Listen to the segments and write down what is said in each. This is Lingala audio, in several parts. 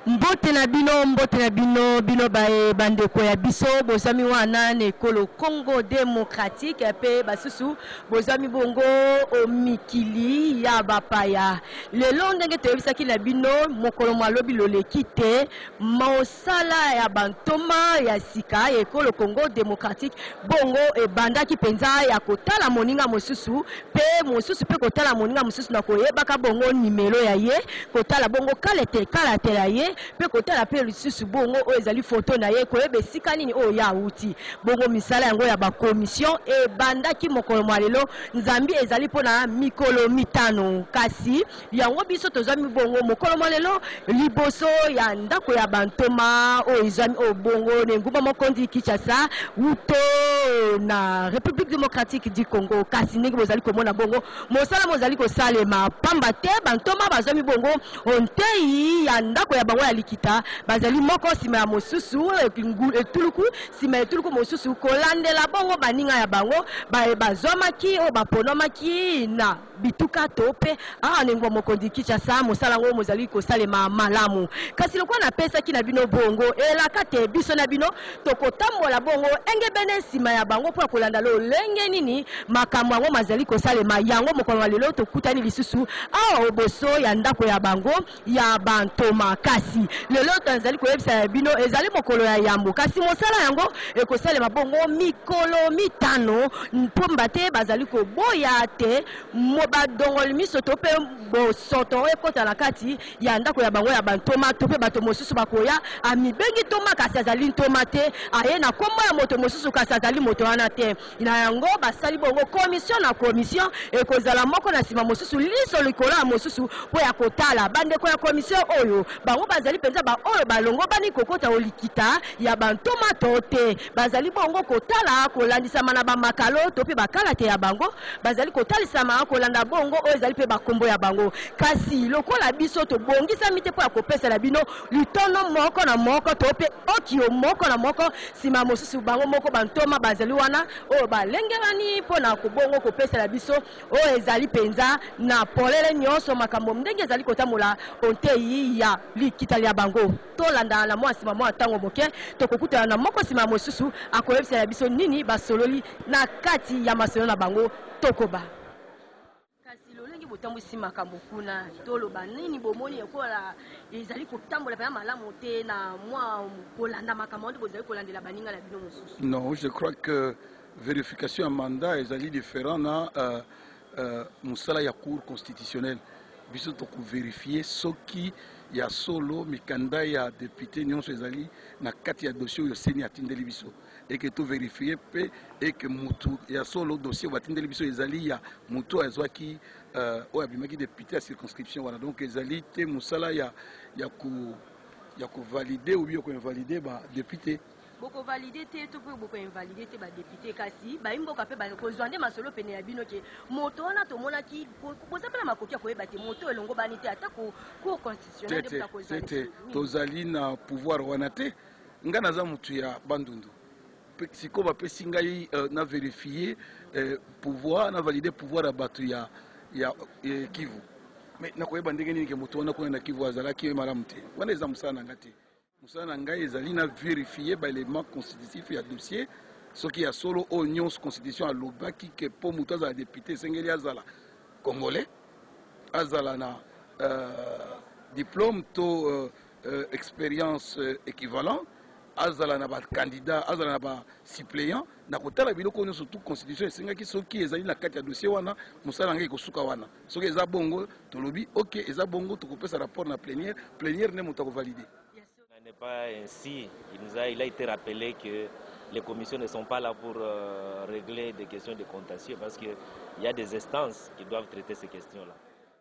mbote na bino mbote na bino bino baye bandeko ya biso bozwami wana na ekolo congo demokratike mpe basusu bozwami bongo o mikili ya bapaya Lelo, ndenge toyebisaki na bino mokolo mwa lobi loleki te, mosala ya ba ntoma ya sika ya ekolo Congo democratique bongo ebandaki mpenza ya kotala moninga mosusu mpe mosusu mpe kotala moninga mosusu na koyebaka bongo nimelo ya ye, kotala bongo kalete, kalate ya ye mpe kotala mpe lisusu bongo oyo ezali foto na ye, koyeba esika nini oyo ye awuti. Bongo misala yango ya ba commissions ebandaki mokolo mwa lelo. Zambi ezali mpo na mikolo mitano, kasi yango biso tozwami bongo mokolo mwa lelo liboso ya ndako ya bantoma oyo ezwami oyo bongo na engumba mokonzi Kinshasa, wuto na Republique democratique du Congo. Kasi ndenge bozali komona bongo, mosala mozali kosalema mpamba te bantoma bazwami bongo o ntei ya ndako ya bango ya likita, bazali moko nsima ya mosusu etuluku. Nsima ya etuluku mosusu kolandela bongo baninga ya bango baye bazwamaki oyo baponomaki na bituka to mpe awa na engumba mokonzi Kinshasa, mosala yango mozali kosalema malamu. Kasi lokola napesaki na bino bongo elaka te biso na bino tokotambola bongo engebene nsima ya bango mpo ya kolanda lolenge nini makambo yango mazali kosalema. Yango mokolo wa lelo tokutani lisusu awa oboso ya ndako ya bango. ya ba ntoma kasi lelo tozali koyebisa bino ezali mokolo ya yambo kasi mosala yango ekosalema bongo mikolo mitano mpomba te bazali koboya te badongoli miso to mpe bosoto ekota na kati ya ndako ya bango ya bantoma to mpe bato mosusu bakoya amibengi ntoma kasi azali ntoma te aye na nkombo ya moto mosusu kasi azali moto wana te Na yango, basali bongo commissio na commissio, ekozala moko na sima mosusu, liso likolo ya mosusu, mpo ya kotala bandeko ya commissio oyo bango bazali mpenza baoyo balongobani kokota o likita ya bantoma to te. Bazali bongo kotala kolandisama na bamakalo to mpe bakalate ya bango. Bazali kotalisama kolanda bongo oyo ezali mpe bankombo ya bango. Kasi lokola biso tobongisami te mpo ya kopesa na bino litono moko na moko to mpe okio moko na moko, Sima mosusu bango moko bantoma bazali wana, oyo balengelani mpo na kobongo kopesela biso oyo ezali mpenza na polele nyonso makambo ndenge ezali kotambola o ntei ya likita lya bango. Tolanda na mwa nsima mwa ntango moke, tokokutana na moko nsima ya mosusu, akoyebisela biso nini basololi na kati ya masolo na bango. Tokoba. Kasi lolenge botambwisi makambo kuna, toloba nini bomoni ekola ezali kotambola pena malamu te na mwa kolanda makambo nde bozali kolandela baninga na bino mosusu? Non, je crois que verification ya mandat ezali different na uh, uh, mosala ya cour constitutionnelle. Biso tokoverifie soki ya solo mikanda ya depute nyonso ezali na kati ya dossier oyo seni atindeli biso. et que to verifier pe et que mutu ya solo dossier batindeli biso ezali ya mutu azwaki euh, oyo abimaki depute ya circonscription wana donc ezali te musala ya ya ko ya ko valider ou bien ko invalider ba depute bokovalide te to mpe bokoinvalide te badepute kasi baimboka mpe bakozwa nde masolo pene ya bino ke moto wana tomonaki boza mpe na makoki ya koyeba te moto elongobani te atako cour constitutionnel tozali na pouvoir wana te Nga naza mutu ya bandundu sikoyo bapesi ngai euh, na verifier euh, pouvoir na valider pouvoir ya bato ya, ya eh, kivu mais nakoyeba ndenge nini ke moto wana kuna na kivu azalaki ye malamu te wana eza mosala na ngai te mosala na ngai ezali na verifier baelement constitutif ya dossier soki ya solo oyo nyonso constitution alobaki ke mpo moto azala depute esengeli azala congolais azala na euh, diplôme to euh, euh, experience euh, equivalent azala na bacandidat azala na basuppléant na kotala biloko oyo nyonso tu constitution esengaki soki ezali na kati ya dossier wana mosala yango ekosuka wana soki eza bongo tolobi ok eza bongo tokopesa rapport na plénière plénière nde moto akovalide n'est pas ainsi. Il, nous a, il a été rappelé que les commissions ne sont pas là pour euh, régler des questions de contentieux parce qu'il y a des instances qui doivent traiter ces questions-là.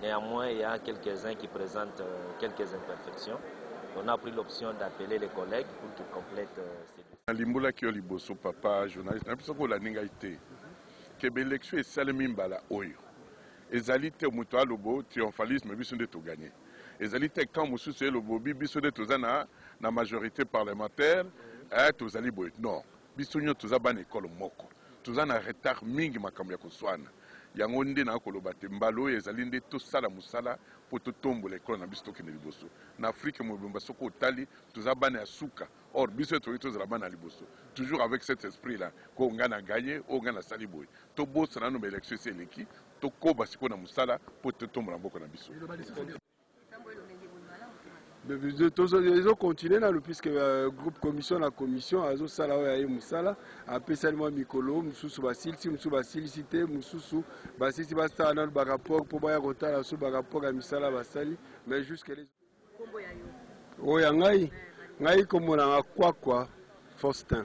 Neanmoins il ya a quelques uns qui presentent quelques imperfections, on a pris l'option d'appeler les collègues pour qu'ils complètent ce dossier. Nalimbolaki yo liboso papa journaliste nayebi soki olandi ngai te que ba elections esalemi mbala oyo ezali te moto alobo triomphalisme biso nde to gagne ezali te camp mosusu elobobi biso nde toza na na majorite parlementaire eh tozali boye non Biso nionso toza bana ecole moko, toza na retard mingi makambo ya kosuana. Yango nde na koloba te mbala oyo ezali nde tosala mosala po totombola ecole na biso tokende liboso. Na Afrique mobimba soki otali toza bana ya suka or biso nde tokoki tozala bana ya liboso toujours avec cet esprit la que nga na gagne oyo nga nasali boye. Tobosana nanu ba elections esi eleki, tokoba sikoyo na mosala po totombola mboka na biso. ezo continue nanu puisque euh, groupe commission na commission azosala oyo aye mosala apesani mwa mikolo mosusu basilisi mosusu basilisi te mosusu basilisi basala nanu barapport mpo baya kotala so barapport ya misala basali mais jusque oyo ya ngai ngai kombo nanga kwakwa faustin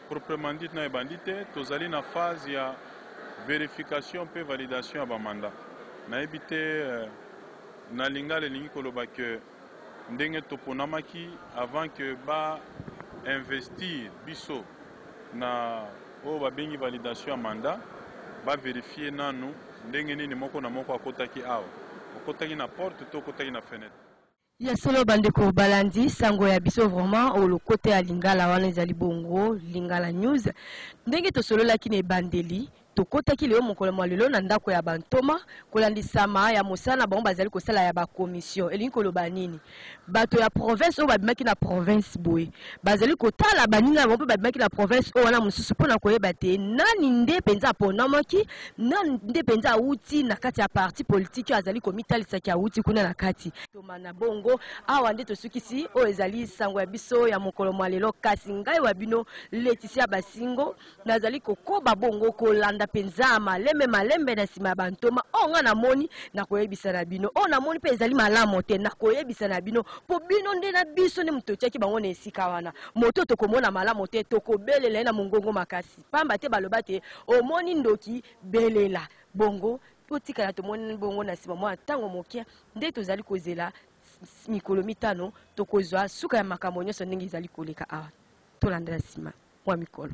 Proprement dit nayo ebandi te, tozali na phase ya verification mpe validation ya ba mandats. Nayebi te na lingala elingi koloba que ndenge toponamaki avant que ba investir biso na oyo babengi validation ya mandat, ba verifier nanu ndenge nini moko na moko akotaki awa, okotaki na porte to okotaki na fenetre. Ya solo ba ndeko balandi sango ya biso vraiment o lokota ya lingala wana ezali bongo lingala news ndenge tosololaki na ebandeli tokotaki lelo mokolo mwa lelo na ndako ya ba ntoma kolandisama ya mosala na bango bazali kosala ya ba commission elingi koloba nini bato ya province oyo babimaki na province boye bazali kotala baninga na bango mpe babimaki na province oyo wana mosusu mpo na koyeba te nani nde mpenza aponamaki Nani nde mpenza awuti na kati ya parti politiki oyo azali komitalisa ke awuti kuna na kati? Ntoma na bongo, awa nde tosukisi oyo ezali sango ya biso ya mokolo mwa lelo. Kasi ngai wa bino Laetitia Basingo, nazali kokoba bongo kolanda mpenza malembe malembe na sima ya ba ntoma. Oyo ngai namoni, nakoyebisa na bino. Oyo namoni mpe ezali malamo te, nakoyebisa na bino. Mpo bino nde na biso nde moto totiaki bango na esika wana. Moto oyo tokomona malamo te, tokobelela ye na mongongo makasi. Pamba te baloba te, Omoni ndoki, belela. Bongo totikala tomonani bongo, na sima mwa tango moke, nde tozali kozela mikolo mitano, tokozwa suka ya makambo nyonso ndenge ezali koleka awa. Tolanda na sima mwa mikolo.